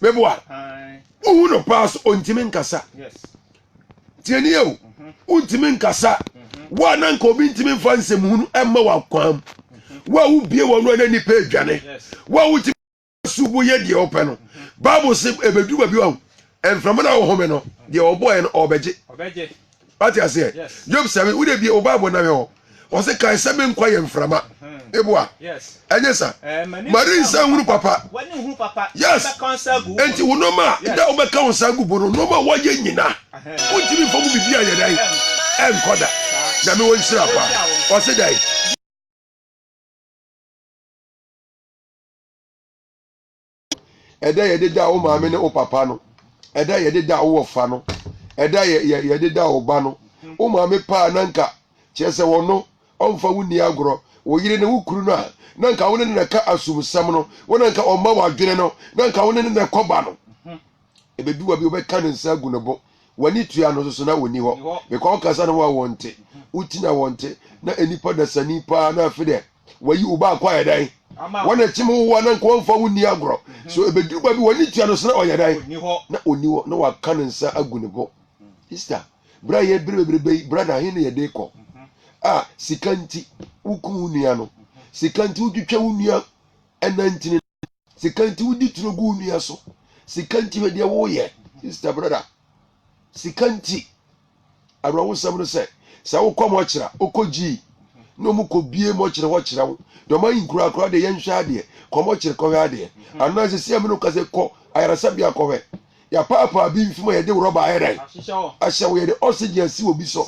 meboa wohu no paa so ɔntumi nkasa tiɛni o mhm. wontumi nkasa mhm. wo a na nka obi ntumi mfa nsɛm hunu ɛmma wakwan mu wo a wobie wɔ no a na nnipa adwane wo a wotumi so woyɛ deɛ wopɛ no bible se ɛbɛduru baabi a mframa no a wohome no deɛ ɔbɔɛ no ɔbɛgye wate aseɛ job sɛbe wode bie wo bible na hwɛ hɔ ɔse kae sɛ me nkwa yɛ mframa eboa ɛnyɛ sa mari nsa hunu papa yes enti wo nɔma a da wobɛka wo nsa gu bo no nɔma wɔyɛ nyina wontimi mfa mu biribi a yɛdan ɛnkɔ da nyame wɔ nhyira pa ɔse dɛn ɛda a yɛde da wo maame ne wo papa no ɛda a yɛde da wo wɔfa no ɛda a yɛde da wo ba no wo maame paa na nka kyerɛ sɛ wɔno ɔmfa wo nni agorɔ wo yere ne wo kuru no a na nka wo ne no na ɛka asomsɛm no wo na nka ɔma w'adwene no na nka wo ne no na ɛkɔba no ɛbɛdu wa bi wobɛka ne nsa agu ne bo w'ani tua no soso na wɔni hɔ bɛkɔ wokasa ne ho a wɔnte wotina wɔnte na nnipa dasani paa na afe dɛ Wayi wo ba akɔ ayɛ dɛn? Wɔn a ɛkyem wo a na nka wɔmfa wo nni agorɔ. Mhm. So ɛbɛduru ba bi wɔne tua no so na ɔyɛ dɛn? Na ɔnni hɔ na waka ne nsa agu ne bo. Mm. Easter, berɛ a yɛbere bebrebe yi, brada ahe na yɛde kɔ? Mhm. A, sika nti woku wo nua no. Mhm. Sika nti wotwitwa wo nua ɛnantini no. sika nti wodi turo gu wo nua so sika nti hwɛ deɛ woyɛ sister brother sika nti awerɛhosɛm no sɛ sɛ wokɔ mɔkyera wokɔ gyii na ɔmo kɔ bie mɔkyere hɔ kyerɛ wo deɛ ɔma yi nkurakura deɛ yɛnhwɛ adeɛ kɔ mɔkyere kɔhwɛ adeɛ anaa sɛ sɛ mene kasa kɔ ayaresabea kɔhwɛ yɛapaapaa bi mfim a yɛde rɔba ayɛ dɛn ahyɛ wo yɛde oxygen asi wɔ bi so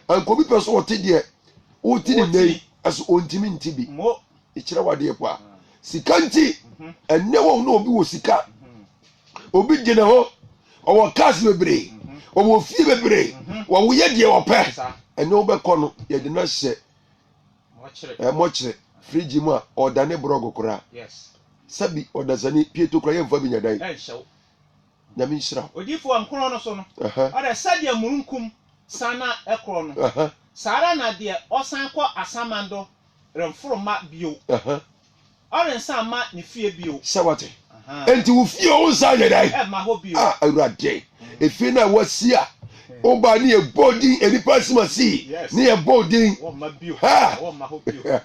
anka obi pɛ so ɔte deɛ wote ne nnɛ yi ɛso ɔntimi nte bi Ɛkyerɛ wo adeɛ paa. Sika nti, ɛnɛ wɔn na obi wɔ sika, obi gyina hɔ, ɔwɔ cars bebree, ɔwɔ fie bebree, wɔyɛ deɛ wɔpɛ. Ɛnɛ wobɛkɔ no, yɛde no ahyɛ ɛmɔkyerɛ firigye mu a ɔdane borɔgo koraa. Sɛbi ɔdasani pieto koraa yɛmfa bi nya dan. Nyame nhyira wo. Odiyifo a nkorɔn no so no, ɔdɛ sɛdeɛ murunkum san na ɛkorɔn no, saa ara na deɛ ɔsan kɔ asaman do remforo mma bio, ɔrensan mma ne fie bio. Sɛ wate? Enti wo fie wo nsan nyɛ dɛn? Ɛmma hɔ bio. Ah, Awurade, efie no a wasi a wobaa ne yɛbɔɔ din nnipa asim ase yi, ne yɛbɔɔ din. Wɔmma bio. Ha! Wɔmma hɔ bio.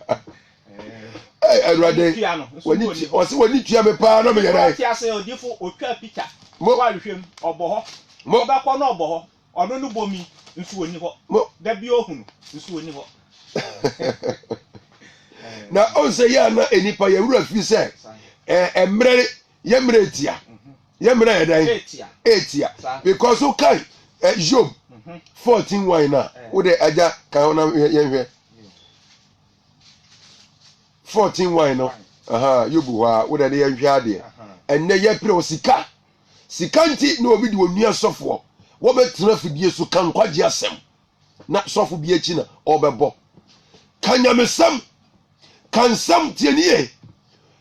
Hey, Awurade, w'ani tua ɔsi w'ani tua mi paa na mi yɛ dɛ. Ɔte ase odifo otwa picture. Mo wa hwehwɛ mu ɔbɔ hɔ. Mo bɛkɔ na ɔbɔ hɔ. Ɔno no bɔ mi nso oni hɔ. Mo da bi ohunu nso oni hɔ. Na ɔnsɛ yɛ ana enipa yɛ wura fi sɛ ɛɛ mmerɛ yɛ mmerɛ etia mhm. yɛ mmerɛ yɛ dɛ etia etia because o kan ɛ Job mhm. fourteen wine na o de ɛgya kan hɔ na yɛn hwɛ. fourteen one no yobu hɔ a wodɛ ne yɛnhwɛ adeɛ ɛnnɛ yɛpere wɔ sika sika nti na obi de onua sɔfoɔ wɔbɛtena fidie so ka nkwagye asɛm na sɔfo bi akyi na ɔbɛbɔ ka nyamesɛm ka nsɛm tiɛni yɛ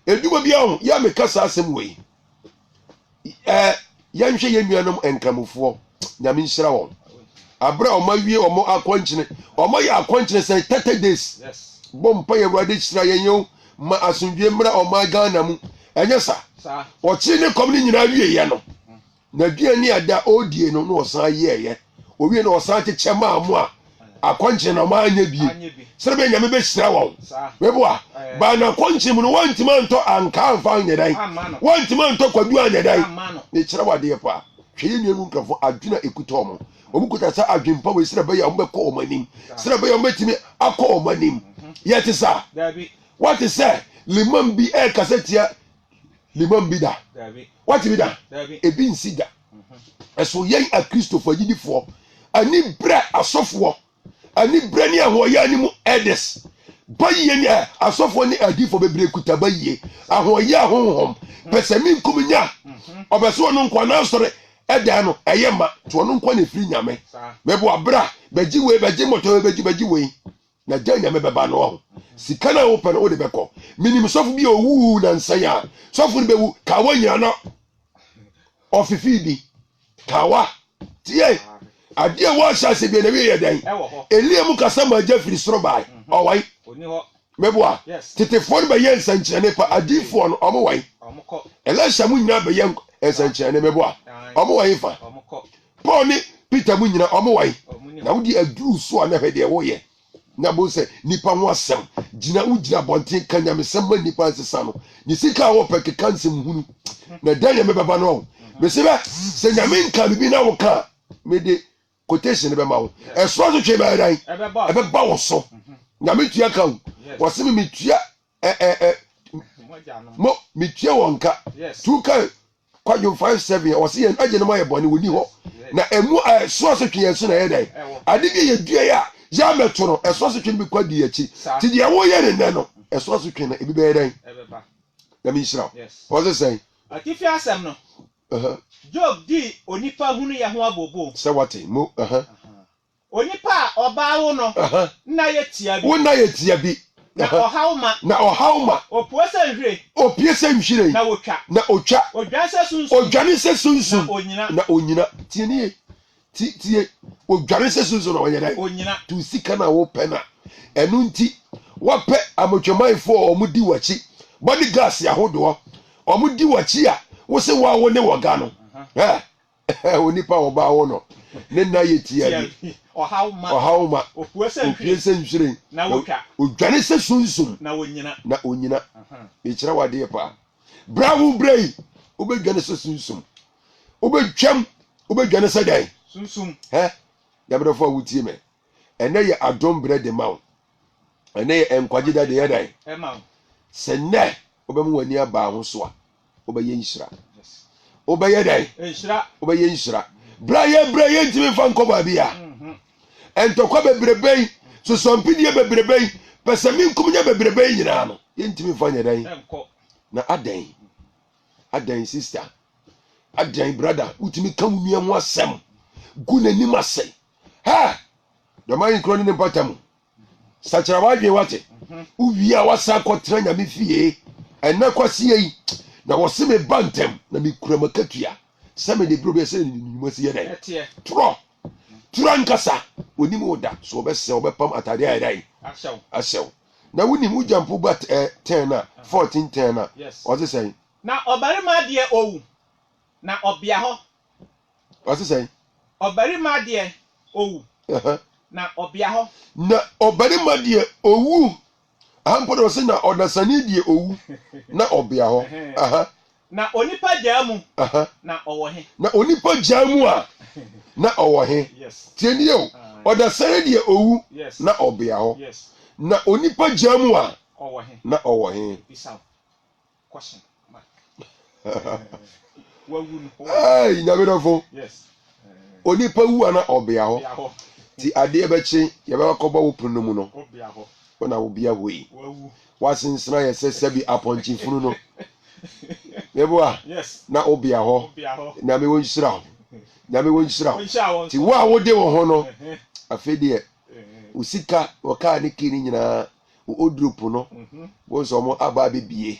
edwuma bi ahụ ya meka saa asɛm wei ɛɛ yɛnhwɛ yɛn nuanom nkramofoɔ nyame nhyira wɔn abere a wɔn awie wɔn akɔnkyene wɔn ayɛ akɔnkyene sɛ thirty days bɔ mpa yɛ awurade hyira yɛn yɛn ma asomdwe mmra wɔn ghana mu ɛnyɛ sa ɔkyere ne kɔm ne nyinaa wie yɛ no na aduane a da ɔredie no na ɔsan yɛɛyɛ Owiei no ɔsan kyekyɛ maa mo a akɔnkyen na wɔanyɛ bi sɛdeɛ bɛyɛ Nyame bɛhyira wɔn. Meboa, baa no akɔnkyen mu no wantumi antɔ ankaa amfa anyɛ dan, wantumi antɔ kwadu anyɛ dan. Mekyerɛ wo adeɛ pa, hwɛ yɛn nuanom Nkrɛfoɔ adwene a ɛkuta wɔn. Wɔn kuta saa adwene pa wei sɛdeɛ bɛyɛ a wɔbɛkɔ wɔn anim, sɛdeɛ bɛyɛ a wɔbɛtumi akɔ wɔn anim. Yɛte saa? Wate sɛ limam bi ɛrekasa tia limam bi da? Wate bi da? Ebi nsi da. ɛso yɛn akristofo agyidifoɔ ani berɛ asɔfoɔ ani berɛ ne ahoɔyɛ anim elders bayie ne asɔfoɔ ne adiifoɔ bebree kuta bayie ahoɔyɛ ahohom pɛ sɛ me nkum nya ɔbɛ sɛ ɔno nkwa na asɔre ɛdan no ɛyɛ ma nti ɔno nkwa na ɛfiri nyame mɛboa berɛ a bɛgye wei bɛgye mmɔtɔ wei bɛgye bɛgye wei Na dɛn na mebɛba no ho? Sika no a wopɛ no wode bɛkɔ. Menim sɔfo bi a owuu nansa yi a sɔfo no bɛwu kawa nyina na ɔfefee bi. Kawa. Tie! Ade a ɛwɔ ahyɛase bia na wie yɛ dɛn? Elia mu kasa ma agya firi soro bae. Mhm. Ɔwae. Ɔni hɔ. Meboa. Yes. Tetefoɔ no bɛyɛ nsɛnkyerɛnne pa. Adiifoɔ no, ɔmo wae. Ɔmo kɔ. Elisha mu nyinaa bɛyɛ nsɛnkyerɛnne. Meboa. Ɔmo wae fa. Ɔmo kɔ. Paul ne Peter mu nyina ɔmo wae na wode aduru so a na hwɛ deɛ woyɛ na bo sɛ nipa ho asɛm gyina wo gyina abɔnten ka nyamesɛm ma nipa nsesa no ne sika a wɔpɛ keka nsɛm hunu na ɛda nyame bɛba no ɔho mese bɛ sɛ nyame nka me bi na wo ka mede quotation bɛma wo ɛsoa so twee bɛyɛ dan ɛbɛba wo so nyame tua ka wo wɔse me metua ɛ ɛ ɛ mo metua wɔn ka tu kan kwadwom five seven yɛ ɔsi yɛn agye no ma yɛ bɔne wɔ ni hɔ na emu ɛ so asotwe yɛn so na yɛ dɛ ade bi yɛ dua yɛ a yɛ amɛto no ɛso asotwe no bi kɔ adi akyi ti deɛ wɔyɛ ne nɛ no ɛso asotwe no ebi bɛyɛ dɛn na mi nhyira o ɔsi sɛn. atifi asɛm no job dii onipa hunu yɛ ho abobo sɛ wate mo. Onipa a ɔbaa wo no nna yɛ tiabi. Wo nna yɛ tiabi. Na ɔhaw ma. Na ɔhaw ma. Opue sɛ nhwiren. Opue sɛ nhwiren. Na otwa. Na otwa. Odwane sɛ sunsum. Odwane sɛ sunsum. Na onyina. Na onyina. Tie ne ye. Ti tie. Odwane sɛ sunsum na ɔnyɛ dɛn? Onyina. Tu sika na wopɛ na ɛno nti wapɛ amotwamanfo a wɔn di wakyi bodyguards ahodoɔ wɔn di wakyi a wose wa wo ne wɔga no. Ɛ. Onipa a ɔbaa hɔ no, ne nna yɛ tiabi, ɔhaw ma, opue sɛ nhwiren, na odwane sɛ sunsum, na onyina. Mekyerɛ wo adeɛ paa. Berɛ a wobrɛ yi, wobɛdwane sɛ sunsum. Wobɛtwam, wobɛdwane sɛ dɛn? Sunsum. Hɛ, yamedɔfo a wotie me, ɛnɛ yɛ adom berɛ de ma wo. ɛne nkwagye da deɛ dan sɛ nnɛ wobɛma w'ani abaa ho so a wobɛyɛ nhyira wobɛyɛ dan wobɛyɛ nhyira berɛ a yɛbrɛ yɛntumi mfa nkɔ baabi a mhm. ntɔkwa bebrebe yi sosɔmpedeɛ bebrebe yi pɛ sɛ menkomnya bebrebe yi nyinaa no yɛntumi mfa nyɛ dan na adɛn adɛn sister adɛn brada wotumi ka wo nua ho asɛm gu n'anim asɛe Ha! Dɔm ayi nkuro ne ne mpata mu. Sakyera w'adwene wate. Wowie a woasan akɔtena nyame fie. Ɛnɛ kwaseɛ yi na wɔse me ba ntɛm na mekura m'akatua sɛ me ne bro bɛyɛ sɛ ne nnwuma si yɛ dɛn. Torɔ! Toro ankasa onim wo da so ɔbɛsɛ ɔbɛpam atade ayɛ dɛn ahyɛw. Na wonim wo gyampo ba ɛ tɛn na fɔɔten tɛn na ɔse sɛn. Na ɔbarima deɛ owu na ɔbea hɔ Ɔse sɛn? Ɔbarima deɛ owu, na ɔbea hɔ. Na ɔbarima deɛ owu. Aha mpo deɛ ɔse na ɔdasani deɛ owu, na ɔbea hɔ. Aha. Na onipa gyaa mu, na ɔwɔ he? Na onipa gyaa mu a, na ɔwɔ he? Tie nie o, ɔdasani deɛ owu, na ɔbea hɔ. Na onipa gyaa mu a, na ɔwɔ he? Hey, nyame dɔfo onipa wu ana ɔbea hɔ ti adeɛ bɛkye yɛbɛba kɔbɔ wo pono mu no wo na wobea hɔ yi woasensena yɛ sɛ sɛbi apɔnkye funu no meboa na wobea hɔ nyame wo nhyira ho nyame wo nhyira ho ti wo a wode wo ho no afei deɛ wo sika wɔkaa ne kii no nyinaa Oduru po no, bohu sɛ wɔn aba abɛbie.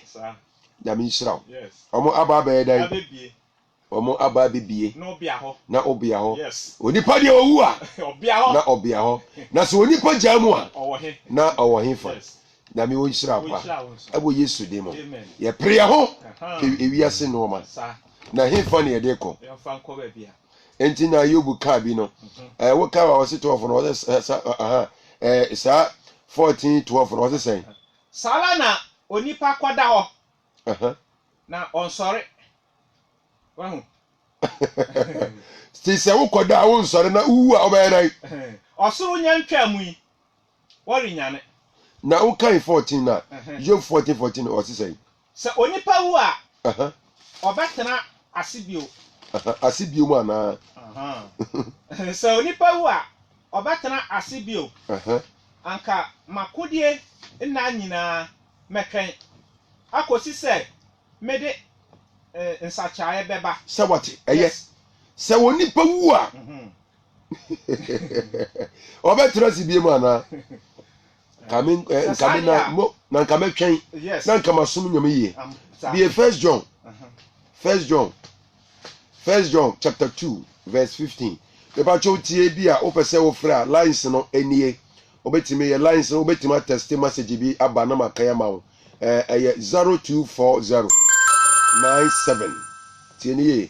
Nyame nhyira wo. Wɔn aba abɛyɛ dɛn? Wɔn aba abɛbie na obea hɔ. Onipa deɛ ɔwu a, na ɔbea hɔ. Na sɛ onipa gyaa mu a, na ɔwɔ he fa? Nyame wo nhyira wo paa. Ɛwɔ Yesu din mu. Yɛpere yɛ ho kɔ ewiase nnoɔma. Na he fa ne yɛde kɔ? Enti na Yob ka bi no. Eh, wo ka wa ɔse 12 no ɔse eh, sa, eh, aha, eh, saa 14 12 no ɔse sɛn? Saa ara na onipa kɔda hɔ Aha. na ɔnsɔre. Wahu? Ti sɛ wokɔda a wonsɔre na wowu a wobɛyɛ dɛn? Ɔsoro nya ntwaa mu yi. wɔrenyane. Na wo kan fourteen na Job fourteen fourteen no ɔse sɛn? Sɛ onipa wu a ɔbɛtena ase bio. Ase bio mu anaa? Sɛ onipa wu a ɔbɛtena ase bio. Anka m'akodie nna nyinaa mɛtwɛn akɔsi sɛ mede nsakyeraeɛ bɛba. Sɛ wate? Ɛyɛ. Sɛ onipa wu a ɔbɛtena ase bie mu anaa kame eh, nkame na mo na nkame twɛn na nkama som nyame yie bie first john uh-huh. first john first john chapter two verse fifteen bɛbàtwɛ otie bi a wopɛ sɛ wofrɛ a lines no anie wobɛtumi yɛ lines no wobɛtumi atɛste message bi aba na maka yɛ ma wo ɛyɛ zero two four zero nine seven tie ne yie.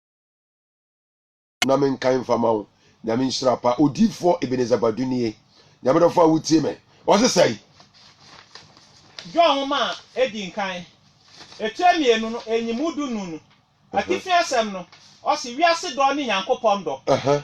na me nkae mfa ma wo nyame nhyira pa odiifoɔ ebenezer badu nie nyame dɔfo a wotie me ɔse sɛi. John nwoma a edi nkan, etire mmienu no, nyimu du nnum no, atifi asɛm no, ɔse, Wiase dɔ ne Nyankopɔn dɔ.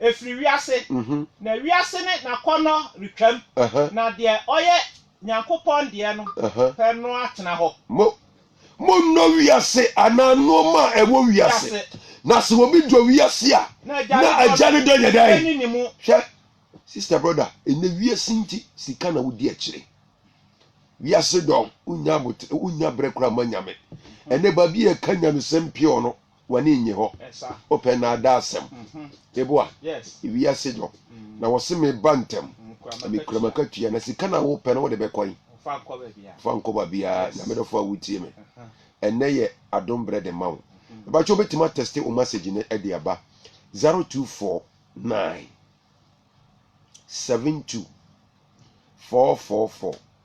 ɛfiri wiase, na wiase ne n'akɔnnɔ retwam, na deɛ ɔyɛ Nyankopɔn deɛ no pɛ no atena hɔ. Mo, monnɔ wiase anaa nnoɔma a ɛwɔ wiase, na sɛ obi dɔ wiase a, na Agya no dɔ nyɛ dɛn? Hwɛ, sister, brother, ɛnɛ wiase nti, sika na wodi akyire. Wiase dɔ, wonnya abotere, wonnya berɛ koraa ma Nyame. Ɛnɛ baabi a yɛka Nyamesɛm pure no, W'ani nnye hɔ, wopɛ nnaadaasɛm. Mebo a, wiase dɔ, na wɔse meba ntɛm, na mekura m'akatua, na sika na wopɛ no wode bɛkɔ he? Fa nkɔ baabiaa, Nyame dɔfo a wotie me, ɛnnɛ yɛ adom berɛ de ma wo. Mepakyɛ wobɛtumi atɛste wo masage no de aba 0249 72 444.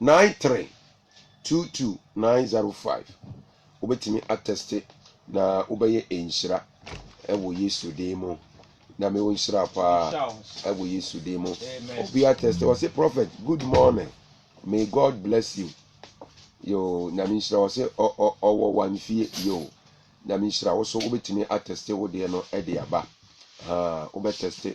nine three two two nine zero five wobɛtumi atɛste na wobɛyɛ nhyira ɛwɔ yesu din mu na mewɔ nhyira paa ɛwɔ yesu din mu obi atɛste wɔse prophet good morning may god bless you yo nyame nhyira wɔse ɔwɔ wamfie yo nyame nhyira wo so wobɛtumi atɛste wo deɛ no ɛde aba wobɛtɛste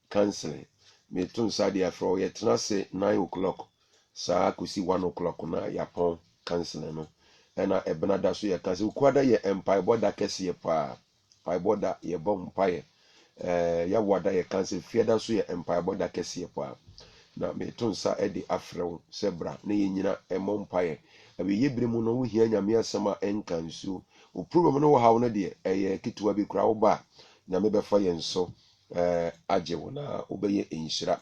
Counseling, meto nsa de afrɛ wo, yɛtena ase nine o'clock saa kɔsi one o'clock no a yɛapɔn counseling no. Ɛna ɛbena da so yɛ counseling. Wukuada yɛ mpaebɔ da kɛseɛ paa. Mpaebɔ da, yɛbɔ mpaeɛ. Ɛɛ, Yawada yɛ counseling. Fiada nso yɛ mpaebɔ da kɛseɛ paa. Na meto nsa de afrɛ wo sɛ bra na yɛn nyina mmɔ mpaeɛ. Awieeɛ berɛ mu no, wohia Nyame asɛm a ɛnka nsuo. Wo problem ne wo haw no deɛ, ɛyɛ ketewa bi koraa, woba a, Nyame bɛfa yɛn so. Ɛɛ agye wo na wobɛyɛ nhyira.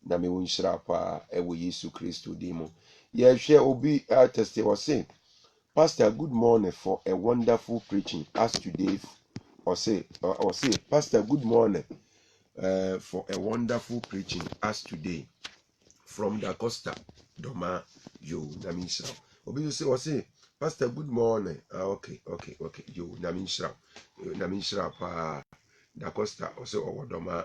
Nyame wo nhyira paa ɛwɔ Yesu Kristo din mu. Yɛhwɛ obi a tɛste ɔse Pastor good morning for a wonderful preaching as today ɔse ɔse Pastor good morning uh, for a wonderful preaching as today. from da costa dɔmaa yoo nyame nhyira wo obi nso se ɔse pastor good morning ah okay okay okay yoo nyame nhyira wo nyame nhyira paa da costa ɔse ɔwɔ dɔmaa